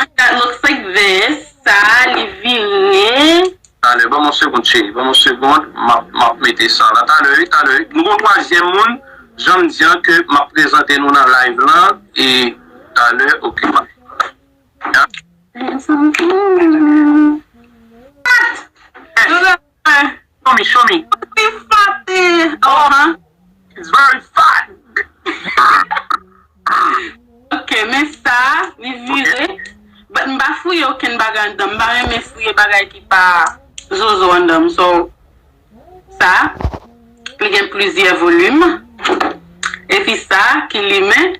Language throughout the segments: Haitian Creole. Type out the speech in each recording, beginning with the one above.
Mwen gad lòt fenk vèyen sa li vire. Talè banm yon segond cheri banm yon segond map map mete sa la talè wi talè wi nou gon twazyèm moun janm di an ke map prezante nou nan live lan e talè ok map Mwen santim byen pat. Hein show me show me. Pi fat ahh. It's very fat ahh. Ok men sa li vire. But m pa fouye okenn bagay anndanm m pa renmen fouye bagay ki pa zozo anndanm so sa li gen plizyè volume epi sa ki limen.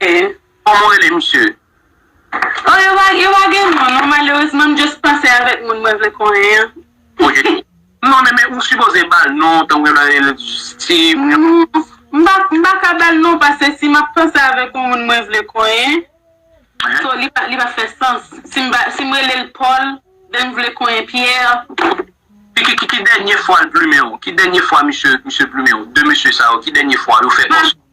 E kòman w rele misye? Oh yo pa yo pa gen non non malerezman m just panse avèk moun mwen vle konnen an. Ok non men men ou sipoze bal non tankou yo ta rele l steeve yo. M pa m pa ka bal non pase si map panse avèk yon moun mwen vle konyen so li pa li pa fè sans si m ba si m rele l paul then m vle konyen pierre. Ki ki ki dènye fwa l plumen w? Ki dènye fwa misye misye plumen w? 2 mesye sa yo ki dènye fwa yo fè kòs.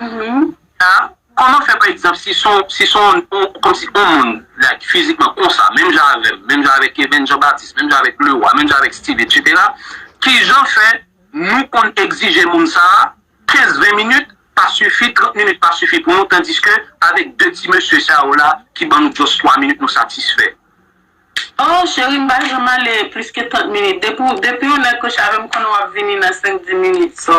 Nina, Kòman fè pa egzanp si son si son kòmsi on moun like fizikman konsa menm jan avèm, menm jan avèk Eben Jean Baptiste, menm jan avèk Leroy, menm jan avèk Steve etc. Kijan fè nou konn egzije moun sa 15 20 minit pa sifi 30 minit pa sifi pou nou tandiske avèk 2 ti mesye sa yo la ki ban nou just 3 minit nou satisfè? Oh cheri m pa janm ale plis ke 30 minit depi w depi w nèg kochave m konnen w ap vini nan 5 10 minit so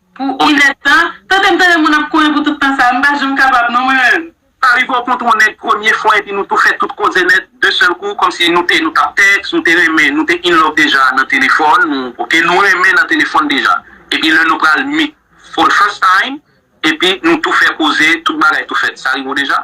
Pou on nèt tan, tandem tande moun ap kore pou tout tan sa, m pa janm kapab non mwen menm. Sa rive w kontre on nèg premye fwa epi nou tou fè tout koze nèt de sèl kou kòmsi nou te nou tap tèks, nou te renmen, nou te in love deja nan telefòn, nou ok nou renmen nan telefòn deja epi lè nou pral meet for the first time epi nou tou fè koze tout bagay tou fèt sa rive w deja?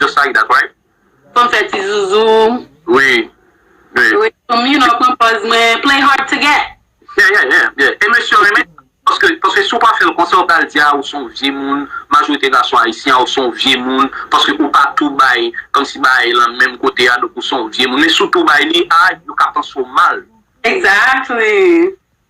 Just like that right. Fem fe ti zuzu. Wi wi. Wi fem you know pran pòz mwen play hard to get. Yeah yeah yeah yeah e mesye yo renmen sa paske paske si ou pa fel konsa yo pral di a ou son vye moun majorite gason ayisyen a ou son vye moun paske ou pa tou bay komsi bagay lan menm kote a donk ou son vye moun men si ou tou bay li a yo ka panse w mal. Exactly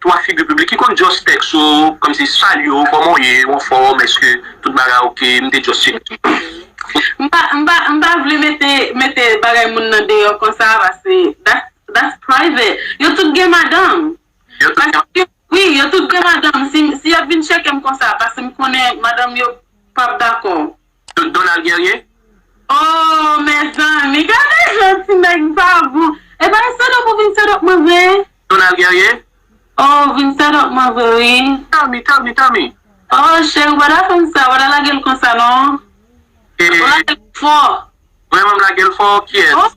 3 figi piblik ki konn just text ou komsi salye w koman w ye ou anfom eske tout bagay ok m te just cheke M pa m pa m pa vle mete mete bagay moun nan deyò konsa paske that's that's private yo tout gen madanm Yo tout gen paske wi yo tout gen madanm si si yap vin cheke m konsa paske m konnen madanm yo pap dakò Tout Donald Guerrier? Ooh mezanmi gade jan ti nèg sa gou epa e set up ou vin set up mwen vre. Donald Guerrier? Oh ou vin set up mwen vre wi. Tommy Tommy Tommy. Oh cheri ou pa ta fèm sa ou pa ta lagel konsa non. Ou lagel fò. Vrèman m lagel fò kiyès.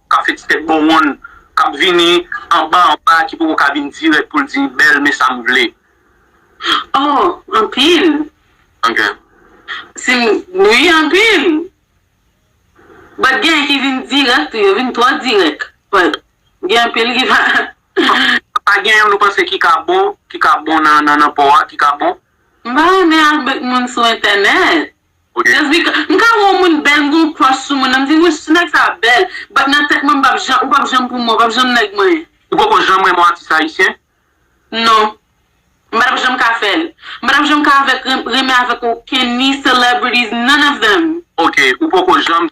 kap fè ti tèt bon wonn, kap vini anba anba ki poko ka vin dirèk poul di bèl men sam vle. Oh anpil. Ok. Sim wi anpil. But gen ki vin dirèk tou yo vin twò dirèk but gen anpil ki pa. Pa gen yon nou panse ki ka bon ki ka bon nan nan po a ki ka bon? M pa renmen al bet moun sou entènèt. Jasmine, m ka wè yon moun bèl m gen yon crush sou moun nan m di wouch ti nèg sa bèl but nan tèt mwen m pap janm ou pap janm pou mwen ou pap janm nèg mwen. Ou poko janm renmen yon atis ayisyen? Non. M pa tap janm ka fè l. M pa tap janm ka avèk renmen avèk okenn ni celebrities none of them. Ok, ou poko janm.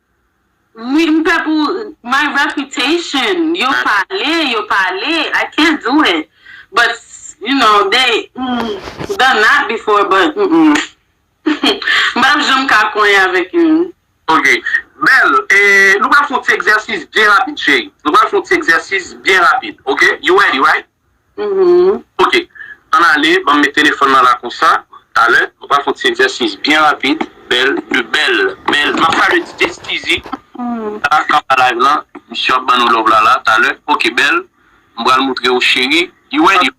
Wi m pè pou my reputation yo pale yo pale I can't do it but you know they done that before but m pap janm ka konyen avèk youn. Ok bèl e nou pral fon ti egzèsis byen rapid cheri nou pral fon ti egzèsis byen rapid ok you ready right. Ok. Ann ale, ban m met telefòn lan la konsa. Talè, nou pral fè yon ti egzèsis byen rapid. Bèl, de bèl, bèl. M ap salye Tite Stizy ki la anba live lan. Misye ap ban nou love la la. Talè. Ok, bèl. M pral moutre ou cheri. You ready?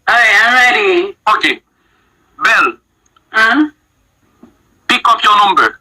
Alright, I'm ready. Ok. Bèl. Pick up your number.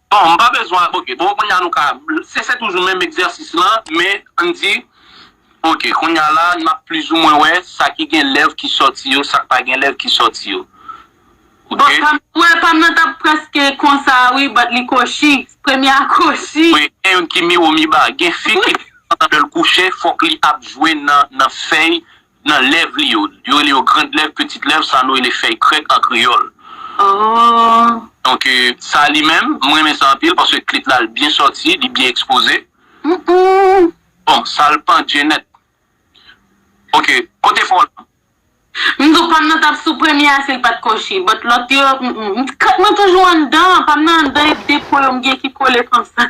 Bon, m pa bezwen al ok. Bon, kounye a nou ka. Se se toujou menm egzèsis lan, men ann di ok kounye a la n ap plizoumwen wè sa ki gen lèv ki sòti yo, sa k pa gen lèv ki sòti yo. Bon, pa m wè pa m nan t ap prèske konsa a wi but li kochi. Premye a kochi. Wi, gen youn ki miwo miba. Gen fi ki pandan lè l kouche fòk li ap jwe nan fèy nan lèv li yo. Yo rele yo grand lèv, petit lèv, sa nou rele fèy krèk an kreyòl. Donk, sa li menm, m renmen sa anpil paske klit la l byen sòti, li byen ekspoze. Bon, sa l pandje nèt. Ok, kote fon an? M di w pa m nan t ap sou premye a si l pa t kochi. But lòt yo, m m. Kòt mwen toujou anndan. Pa m nan anndan e depo yo m gen ki kole konsa.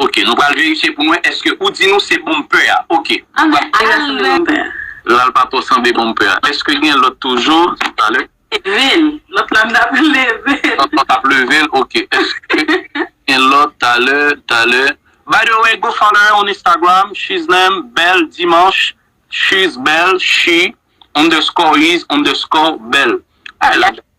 Ok nou pral verifye pou mwen eske ou di nou se bonm pè a ok. An men al vè. Lal pa twò sanble bonm pè a. Eske gen lòt toujou talè. Levil lòt la m tap leve l. Lòt la w tap leve l ok eske gen lòt talè talè. By the way go follow her on Instagram she's name belle dimanche she's belle she underscore is underscore belle.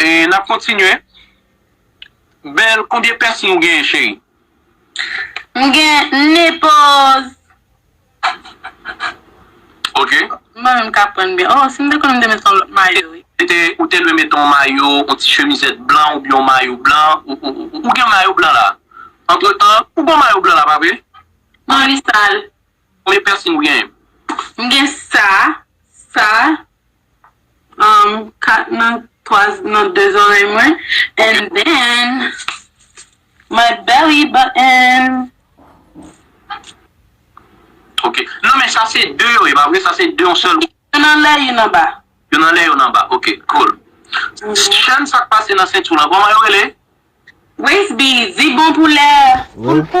E nap kontinye. Belle konbyen pèsn ou genyen cheri. M gen nepal. Ok. Mwen menm ka aprann byen. Oh si m te konn m te met yon lot mayo wi. Ou te dwe mete yon mayo, yon ti chemizèt blan oubyen yon mayo blan. Ou gen mayo blan la? Antretan, ou gen yon mayo blan la pa vre? Non li sal. Konbyen pèsn ou genyen? M gen sa, sa, um 4 nan 3 nan 2 zorèy mwen and then my belly button. Ok nan men sa se 2 yo ye pa vre sa se 2 yon sèl moun. Youn anlè youn anba. Youn anlè youn anba ok cool. Chèn sak pase nan sentu lan koman yo rele? Waist beads li bon pou lè ou.